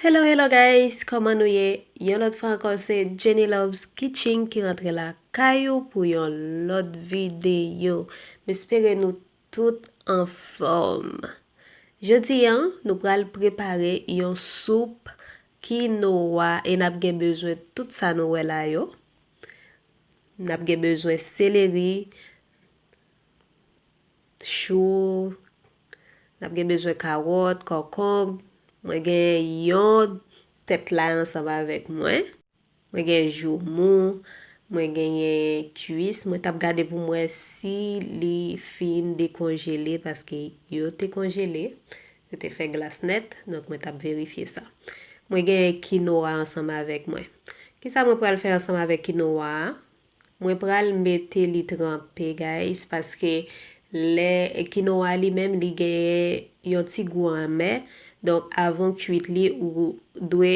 Hello hello guys kòman nou ye yon lòt fwa ankò se Jenny Loves Kitchen ki rantre lakay ou pou yon lòt videyo m espere nou Tout anfòm! Jodi an, nou pral prepare yon soup kinoa e n ap gen bezwen tout sa nou wè la yo. N ap gen bezwen seleri, chou, n ap gen bezwen kawòt, kòkonb, mwen gen yon tèt lay ansanm avèk mwen. Mwen gen jou mou, mwen genyen kuis, mwen tap gade pou m wè si li fin dekonjele paske yo te konjele, yo te fè glas nèt, donk mwen tap verifye sa. Mwen genyen kinoa ansanm avèk mwen. Kisa mwen pral fè ansanm avèk kinoa a? Mwen pral mete li tranpe guys paske lè kinoa li menm li genyen yon ti gou anmè donk avan w kuit li ou dwe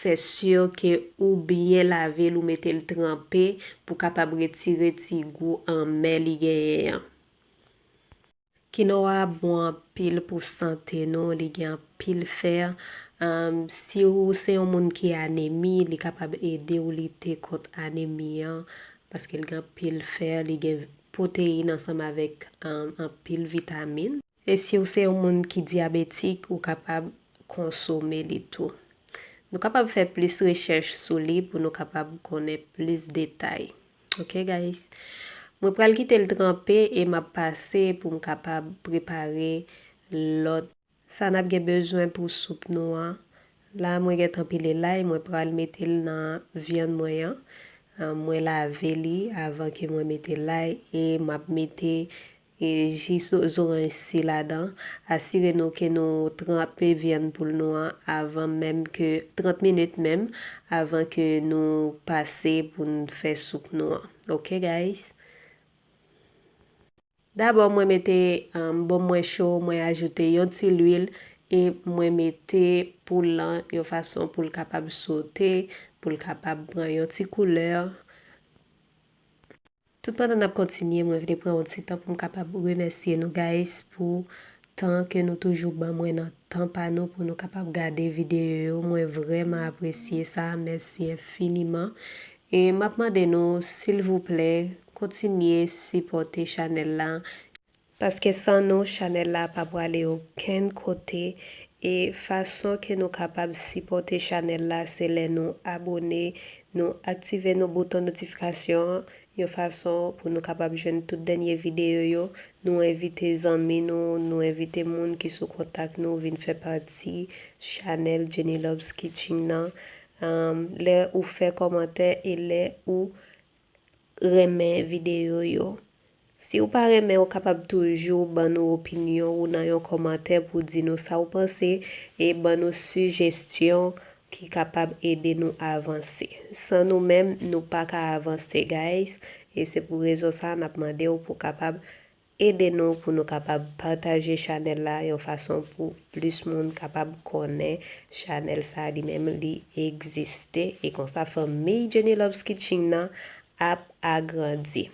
fè sur ke ou byen lave l ou mete l tranpe pou kapab retire ti gou anmè li genyen an. Kinoa bon anpil pou sante nou li gen anpil fer si ou se yon moun ki anemi li kapab ede ou lite kont anemi an paske li gen anpil fer li gen proteyin ansanm avek anpil vitamin. E si ou se yon moun ki diabetik ou kapab konsome li tou. Nou kapab fè plis rechèch sou li pou nou kapab konnen plis detay. Ok guys Mwen pral kite l tranpe e map pase pou m kapab prepare lòt. Sa nap gen bezwen pou soup nou an. La mwen gentan pile lay mwen pral mete l nan vyann mwen an. Mwen lave li avan ke mwen mete lay e map mete Ji zoranj si ladan. Asire nou ke nou tranpe vyann poul nou an avan menm ke 30 minit menm avan ke nou pase pou n fè soup nou an ok guys. Dabò mwen mete bon mwen cho mwen ajoute yon ti lwil e mwen mete poul lan yon fason poul kapab sote poul kapab pran yon ti koulè. Tout pandan nap kontinye mwen vle pran yon ti tan poum kapab remèsye nou guys pou tan ke nou toujou ban mwen nan tan pa nou pou nou kapab gade videyo yo mwen vrèman apresye sa mèsi enfiniman e map mande nou silvouplè kontinye sipòte chanèl la Paske san nou chanèl la pa prale okenn kote e fason ke nou kapab sipòte chanèl la se lè nou abone, nou aktive nou bouton notifikasyon an yon fason pou nou kapab jwenn tout dènye videyo yo, nou envite zanmi nou, nou envite moun ki sou kontak nou vin fè pati chanèl Jenny Loves Kitching nan, lè ou fè kòmantè e lè ou renmen video yo. Si ou pa renmen ou kapab toujou ban nou opinyon ou nan yon kòmantè pou di nou sa ou panse e ban nou sijesyon ki kapab ede nou avanse. San nou menm nou paka avanse guys e se pou rezon sa nap mandew pou kapab Ede nou pou nou kapab pataje chanèl la yon fason pou plis moun kapab konnen chanèl sa li menm li egziste e konsa fanmiy Jenny Loves Kitching nan ap agrandi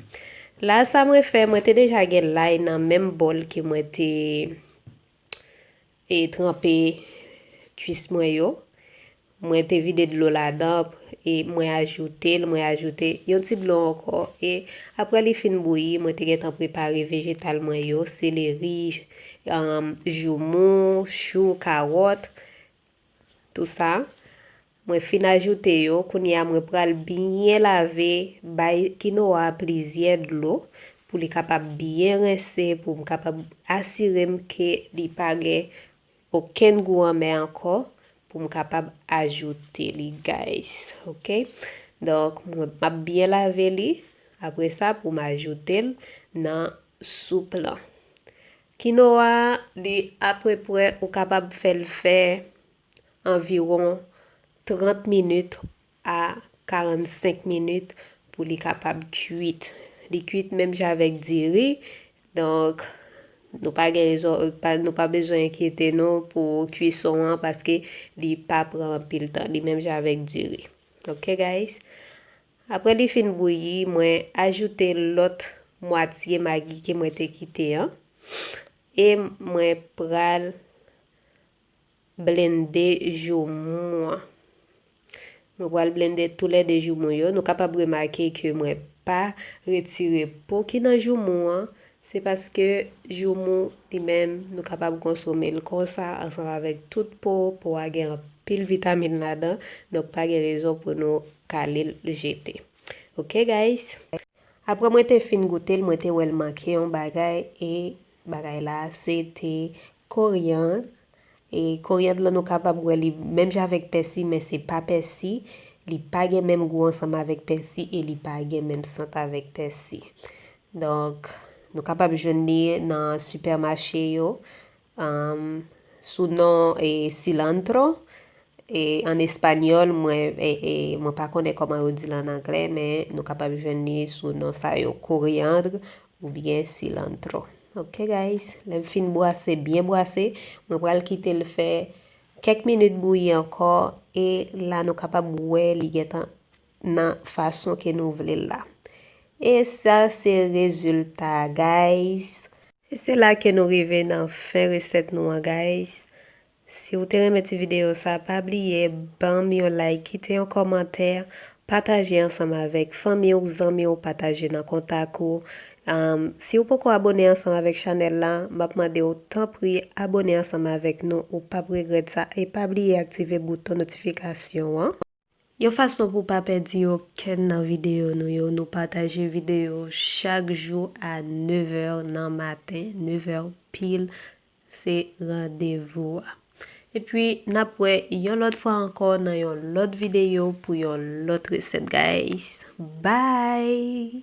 la sa mwen fè mwen te deja gen lay nan menm bòl ke mwen te e tranpe kwis mwen yo mwen te vide dlo ladan e mwen ajoute l mwen ajoute yon ti dlo ankò e aprè li fin bouyi mwen te gentan prepare vejetal mwen yo seleri joumou chou kawòt tou sa Mwen fin ajoute yo, kounye a mwen pral byen lave, bay kinoa a plizyè dlo pou li kapab byen rense pou m kapab asire m ke li pa gen okenn gou anmè ankò pou m kapab ajoute li guys ok donk mwen map byen lave li apre sa pou m ajoute l nan soup lan. Kinoa a li apreprè ou kapab fè l fè anviwon 30 minit a 45 minit pou li kapab kuit. Li kuit menm jan avèk diri, donk nou pa gen rezon, nou pa bezwen enkyete nou pou kuison an paske li pa pran anpil tan, li menm jan avèk diri. Ok guys. Aprè li fin bouyi, mwen ajoute lòt mwatye magi ke mwen te kite an e mwen pral Blende joumou an. Mwen pral blende tou lè 2 joumou yo. Nou kapab remake ke mwen pa retire po ki nan joumou an. Se paske joumou li menm nou kapab konsome l konsa ansanm avèk tout po. Po a gen anpil vitamin ladan. Donk pa gen rezon pou nou kale l jete. Ok guys. Aprè mwen te fin goute l mwen te wè l manke yon bagay e Bagay la se te koriandre. E koriandre lan nou kapab wè li menm jan avèk pèsi men se pa pèsi. Li pa gen menm gou ansanm avèk pèsi e li pa gen menm sant avèk pèsi. Donk nou kapab jwenn li nan sipèmache yo sou non cilantro. An espanyòl, mwen mwen pa konnen kòman yo di l an anglè men nou kapab jwenn li sou non sa yo, coriandre oubyen cilantro. Ok guys, lè m fin bwase, byen bwase, mwen pral kite l fè kèk minit bouyi ankò e la nou kapab wè li gentan nan fason ke nou vle l la. E sa se rezilta guys! E se la ke nou rive nan fen resèt nou an guys. Si ou te renmen ti video sa pa bliye banm yon like kite yon kòmantè pataje ansanm avèk fanmi ou zanmi ou pataje nan kontak ou si ou poko abone ansanm avèk chanèl la map mande ou tanpri abone ansanm avèk nou ou pap regrèt sa e pa bliye aktive bouton notifikasyon an. Yon fason pou pa pèdi okenn nan videyo nou yo nou pataje videyo chak jou a 9 è nan maten 9 è pil se randevou a epi nap wè yon lòt fwa ankò nan yon lòt videyo pou yon lòt resèt guys bye.